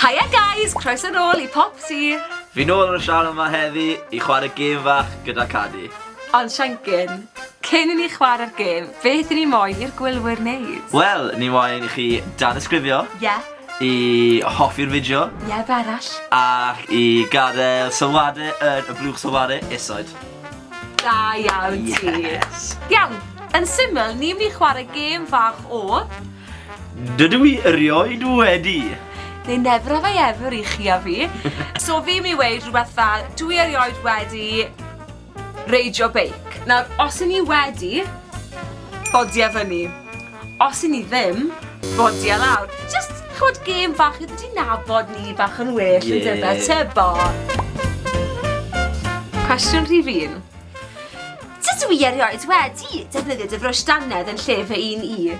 Haia guys! Croeso nôl i Popty! Fi nôl yn y sianel 'ma heddi i chwarae gêm fach gyda Cadi. Ond Siencyn, cyn i ni chwarae'r gêm, beth i ni moyn i'r gwylwyr wneud? Wel, ni moyn i chi danysgrifio. Ie. I hoffi'r fideo. Ie, be arall? Ac i gadael sylwade yn y blwch sylwade isoed. Da iawn ti! Yes! Iawn, yn syml, ni'n mynd i chwarae gêm fach o... Dydw i erioed wedi! They never have I ever i chi a fi. So fi mi weud rhywbeth fel, dw i erioed wedi reidio beic. Nawr, os i ni wedi, bodia fyny. Os i ni ddim, bodia lawr. Jyst, ch'mod, gêm fach i ddod i nabod ni bach yn well, yn dyfe? Tybor! Cwestiwn rhif un. Dydw i erioed wedi defnyddio dy frwsh dannedd yn lle fy un i.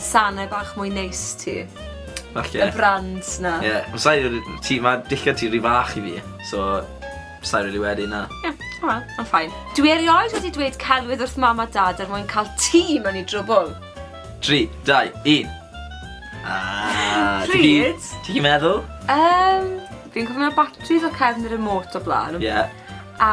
Sanau bach mwy neis ti. Falle. Y brand na. Ie, yeah. Mae sain wedi... Ti, mae dillad ti rhy fach i fi. So, sain wedi wedi na. Ie, yeah. o, yn ffain. Dwi erioed wedi dweud celwydd wrth mam a dad er mwyn cael ti mewn i drwbl. 3, 2, 1. Ah, Pryd? Ti'n meddwl? Um, fi'n cofio mewn batteries o cefn y remote o blaen. Ie. Yeah. A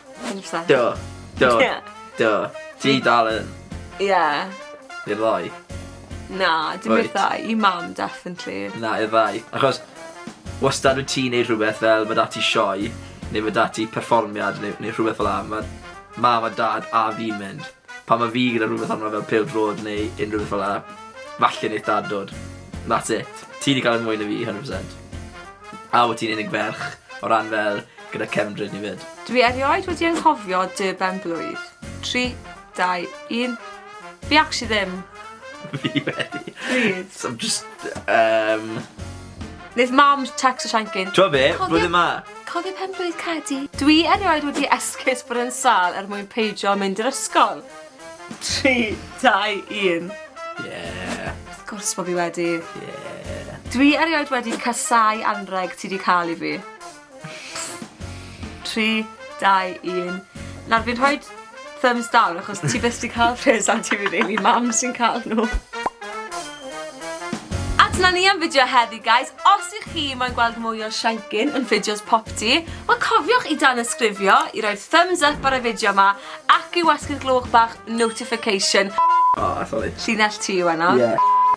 Do. Do. Do. Ti dal yn... Ie. I'r ddau? Na, dim i'r ddau. I mam, definitely. Na, i'r ddau. Achos, wastad wyt ti'n neud rhywbeth fel mae dati sioe, neu mae dati perfformiad, neu, neu rhywbeth fel la. Mae mam a dad a fi'n mynd. Pa mae fi gyda rhywbeth arno fel pil drod neu unrhyw beth fel la, falle wneud dad dod. That's it. Ti wedi cael ei mwy na fi, 100%. A wyt ti'n unig ferch o ran fel Gyda cefndryd ni 'fyd. Dwi erioed wedi anghofio dy ben-blwydd. Tri, dau, un. Fi actually ddim. Fi wedi. Pryd? So I'm just, yym... Neith mam tecsto Siencyn. T'mo' be'? Cofio- Blwyddyn 'ma. Cofio pen-blwydd Cadi? Dwi erioed wedi esgus bod yn sâl er mwyn peidio mynd i'r ysgol. Tri, dau, un. Ie. Wrth gwrs bo' fi wedi. Ie. Dwi erioed wedi casáu anrheg ti 'di ca'l i fi. 3, 2, 1. Nawr fi'n rhoi thumbs down achos ti beth sy'n cael rhes am ti fi rili, mam sy'n cael nhw. A dyna ni am fideo heddi guys, os ych chi mae'n gweld mwy o shankin yn fideos pop ti, wel cofiwch i dan ysgrifio, i roi thumbs up ar y fideo yma, ac i wasgu'r glwch bach notification. O, sori. Llinell ti yw enw. Ie.